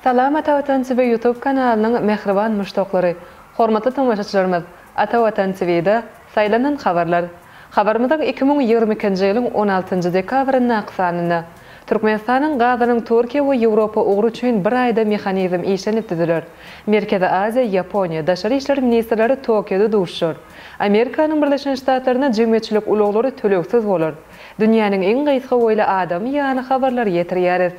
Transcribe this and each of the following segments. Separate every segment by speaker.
Speaker 1: Salam Atavatan TV Youtube kanalynyň mähriban muşdaklary! Hormatly tomaşaçylarymyz! Atavatan TVda Saýlanan habarlar! Habarymyzyň iki müň ýigrimi ikinji ýylyň on altynjy dekabryndaky sanynda Türkmenistanyň gazynyň Türkiýe we Ýewropa ugry üçin bir aýda mehanizm işlenip düzüler. Merkezi Aziýa, Ýaponiýa, daşary işler ministrleri Tokioda duşuşar. Amerikanyň Birleşen Ştatlarynda jemgyýetçilik ulaglary tölegsiz bolar. Dünýäniň iň gysga boýly adamy ýany habarlary ýetirýäris.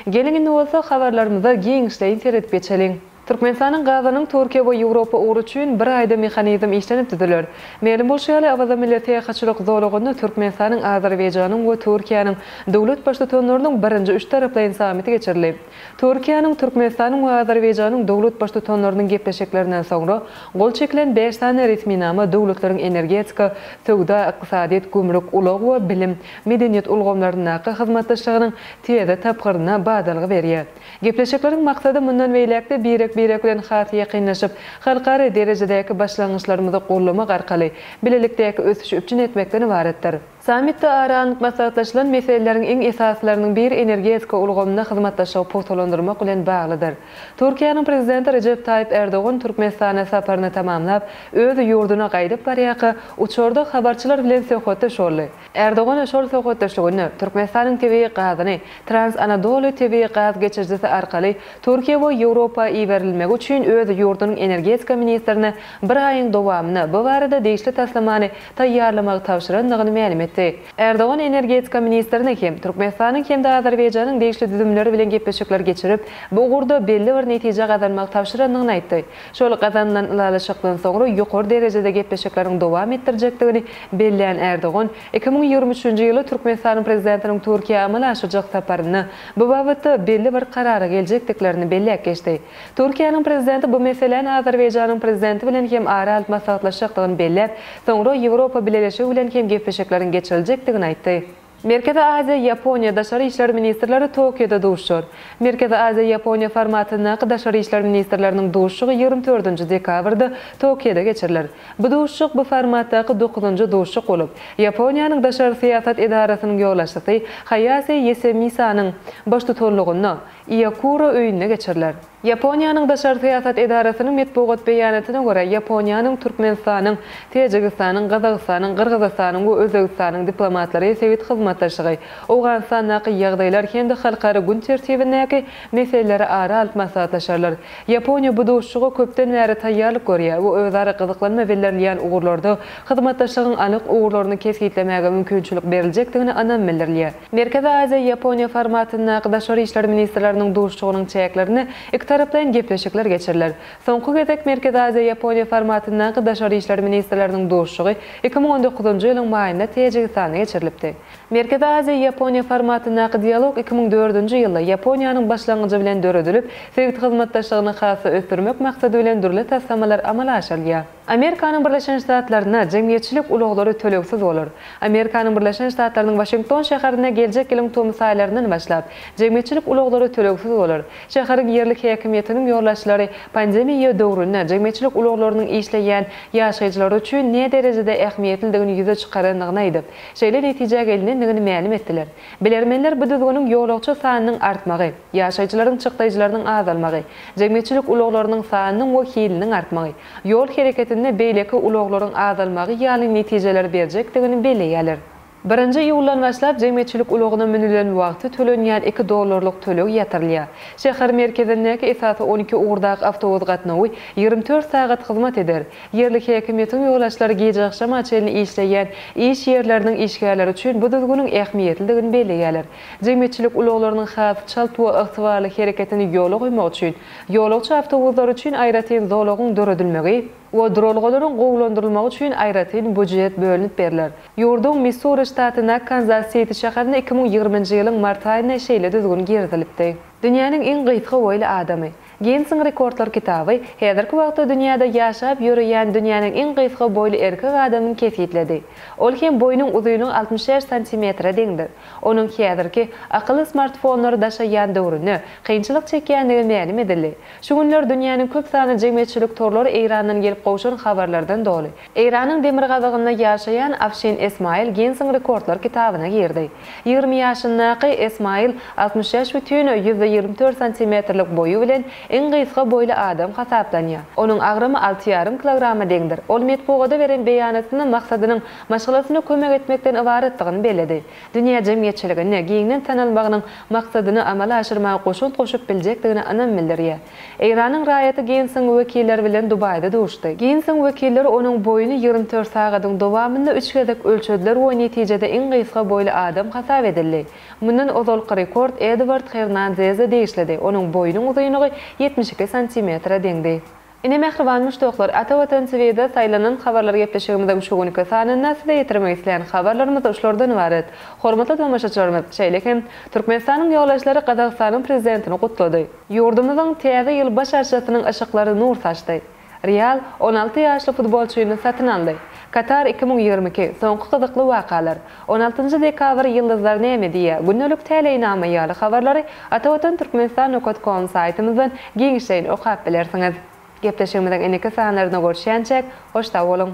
Speaker 1: Geliň indi bolsa habarlarymyza giňişleýin seredip geçeliň. Türkmenistanyň gazynyň Türkiýe we Ýewropa ugry üçin bir aýda mehanizm işlenip düzüler. Mälim bolşy ýaly, Awaza milli syýahatçylyk zolagynda Türkmenistanyň, Azerbaýjanyň we Türkiýäniň döwlet baştutanlarynyň birinji üç taraplaýyn sammiti geçirildi. Türkiýäniň, Türkmenistanyň we Azerbaýjanyň döwlet baştutanlarynyň gepleşiklerinden soňra gol çekilen bäş sany resminama döwletleriň energetika, söwda, ykdysadyýet, gümrük, ulag we bilim, medeniýet ulgamlaryndaky hyzmatdaşlygynyň täze tapgyryna badalga berýär. Gepleşikleriň maksady mundan beýläk-de birek-birek bilen has ýakynlaşyp, halkara derejedäki başlangyçlarymyzy goldamak arkaly bilelikdäki ösüşi üpjün etmekden ybaratdyr. Sammitde ara alnyp maslahatlaşylan meseleleriň iň esasylarynyň biri energetika ulgamynda hyzmatdaşlygy pugtalandyrmak bilen baglydyr. Türkiýäniň Prezidenti Rejep Taýyp Erdogan Türkmenistana saparyny tamamlap, öz ýurduna gaýdyp barýarka, uçarda habarçylar bilen söhbetdeş boldy. Erdogan şol söhbetdeşliginde Türkmenistanyň tebigy gazyny Trans-Anadoly tebigy gaz geçirijisi arkaly Türkiýä we Ýewropa iberilmegi üçin öz ýurdunyň energetika ministrine bir aýyň dowamynda bu barada degişli taslamany taýýarlamagy tabşyrandygyny mälim etdi. Erdogan energetika ministrine hem Türkmenistanyň hem-de Azerbaýjanyň degişli düzümleri bilen gepleşikler geçirip, bu ugurda belli bir netije gazanmagy tabşyrandygyny aýtdy. Şol gazanylan ylalaşykdan soňra ýokary derejede gepleşikleriň dowam etdirjekdigini belleýän Erdogan, iki müň ýigrimi üçünji ýyly Türkmenistanyň prezidentiniň Türkiýä amala aşyrjak saparynda bu babatda belli bir karara geljekdiklerini belläp geçdi. Türkiýäniň prezidenti bu meseläni Azerbaýjanyň prezidenti bilen hem ara alyp maslahatlaşjakdygyny belläp, soňra Ýewropa Bileleşigi bilen hem gepleşikleriň geçiriljekdigini aýtdy. Merkezi Aziýa, Ýaponiýa daşary işler ministrleri Tokioda duşar. Merkezi Aziýa, Ýaponiýa formatyndaky daşary işler ministrleriniň duşuşygy ýigrimi dördünji dekabrda Tokioda geçiriler. Bu duşuşyk bu formatdaky dokuzynjy duşuşyk bolup, Ýaponiýanyň daşary syýasat edarasynyň ýolbaşçysy Haýase Ýesemisanyň baştutanlygynda Iýokuro öýünde geçiriler. Ýaponiýanyň daşary syýasat edarasynyň metbugat beýanatyna görä, Ýaponiýanyň, Türkmenistanyň, Täjigistanyň, Gazagystanyň, Gyrgyzystanyň we Özbegistanyň diplomatlary sebit hyzmatdaşlygy, Owganystandaky ýagdaýlar hem-de halkara gün tertibindäki meseleleri ara alyp maslahatlaşarlar. Ýaponiýa bu duşuşyga köpden bäri taýýarlyk görýär we özara gyzyklanma bildirilýän ugurlarda hyzmatdaşlygyň anyk ugurlaryny kesgitlemäge mümkinçilik beriljekdigine ynam bildirilýär. Merkezi Aziýa, Ýaponiýa formatyndaky daşary işler ministrleriniň duşuşygynyň çäklerinde ikitaraplaýyn gepleşikler geçiriler. Soňky gezek Merkezi Aziýa, Ýaponiýa formatyndaky daşary işler ministrleriniň duşuşygy iki müň on dokuzynjy ýylyň maýynda Täjigistanda geçirilipdi. Merkezi Aziýa, Ýaponiýa formatyndaky dialog iki müň dördünji ýylda Ýaponiýanyň başlangyjy bilen döredilip, sebit hyzmatdaşlygyny has-da ösdürmek maksady bilen dürli taslamalar amala aşyrylýar. Amerikanyň Birleşen Ştatlarynda jemgyýetçilik ulaglary tölegsiz bolar. Amerikanyň Birleşen Ştatlarynyň Waşington şäherinde geljek ýylyň tomus aýlaryndan başlap, jemgyýetçilik ulaglary tölegsiz bolar. Şäheriň ýerlik häkimiýetiniň ýolbaşçylary pandemiýa döwründe jemgyýetçilik ulaglarynyň işleýän ýaşaýjylary üçin näderejede ähmiýetlidigini ýüze çykarandygyny aýdyp, şeýle netijä gelnendigini mälim etdiler. Bilermenler bu düzgüniň ýolagçy sanynyň artmagy, ýaşaýjylaryň çykdaýjylarynyň azalmagy, jemgyýetçilik ulaglarynyň sanynyň we hiliniň artmagy, ýol hereketinde beýleki ulaglaryň azalmagy ýaly netijeleri berjekdigini belleýärler. Birinji iýuldan başlap jemgyýetçilik ulagyna münülen wagty tölenýän iki dollarlyk töleg ýatyrylýar. Şäher merkezindäki esasy on iki ugurdaky awtobus gatnawy ýigrimi dört sagat hyzmat eder. Ýerli häkimiýetiň ýolagçylary gijeagşama çenli işleýän iş ýerleriniň işgärleri üçin bu düzgüniň ähmiýetlidigini belleýärler. Jemgyýetçilik ulaglarynyň has çalt we ygtybarly hereketini ýola goýmak üçin Ýolagçy awtobuslar üçin aýratyn zolagyň döredilmegi we duralgalaryň gowulandyrylmagy üçin aýratyn býujet bölünip berler. Ýurduň Missuri ştatyna Kanzas-Siti şäherine iki müň ýigriminji ýylyň mart aýynda şeýle düzgün girizilipdi. Dünýäniň iň gysga boýly adamy. Ginnesiň rekordlar kitaby häzirki wagtda dünýäde ýaşap ýöreýän dünýäniň iň gysga boýly erkek adamyny kesgitledi. Ol hem boýnuň uzynyň altmyş bäş santimetre deňdir. Onuň häzirki akyly smartfonlary daşaýýan döwründe kynçylyk çekýändigi mälim edildi. Şu günler dünýäniň köp sanly jemgyýetçilik torlary Eýrandan gelip gowşan habarlardan doly. Eýranyň demirgazygynda ýaşaýan Afşin Esmail Ginnsiň rekordlar kitabyna girdi. Ýigrimi ýaşyndaky Esmail altmyş bäş bütin ýüz ýigrimi dört santimetrlik boýy bilen iň gysga boýly adam hasaplanýar. Onuň agramy alty ýarym kilograma deňdir. Ol metbugada beren beýanatynda maksadynyň maşgalasyna kömek etmekden ybaratdygyny belledi. Dünýä jemgyýetçiliginde giňden tanalmagynyň maksadyny amala aşyrmaga goşant goşup biljekdigine ynam bildirýär. Eýranyň raýaty Ginsiň wekilleri bilen Dubaýda duşdy. Ginsiň wekilleri onuň boýuny ýigrimi dört sagadyň dowamynda üç gezek ölçediler we netijede iň gysga boýly adam hasap edildi. Mundan ozalky rekord Eduard Hernanzeze degişlidi, onuň boýunyň uzynlygy ýetmiş iki santimetre deňdi. Ine mähriban muşdaklar, Ata Watan TV'de saýlanan habarlar gepleşigimiziň şu günki sanynda size ýetirmek isleýän habarlarymyz şulardan ybarat. Hormatly tomaşaçylarymyz, şeýle hem Türkmenistanyň ýolbaşçylary Gazagystanyň Prezidentini gutlady. Ýurdumyzyň Täze ýyl baş arçasynyň yşyklary nur saçdy. Real on alty ýaşly futbolçyny satyn aldy. Katar iki müň ýigrimi iki, soňky gyzykly wakalar. On altynjy dekabr Ýyldyzlar näme diýýär? Gündelik Täleýnama ýaly habarlary Atavatan Türkmenistan Nokat Kom saýtymyzdan giňişleýin okap bilersiňiz. Gepleşigimiziň indiki sanlarynda görüşýänçäk, hoş sag boluň!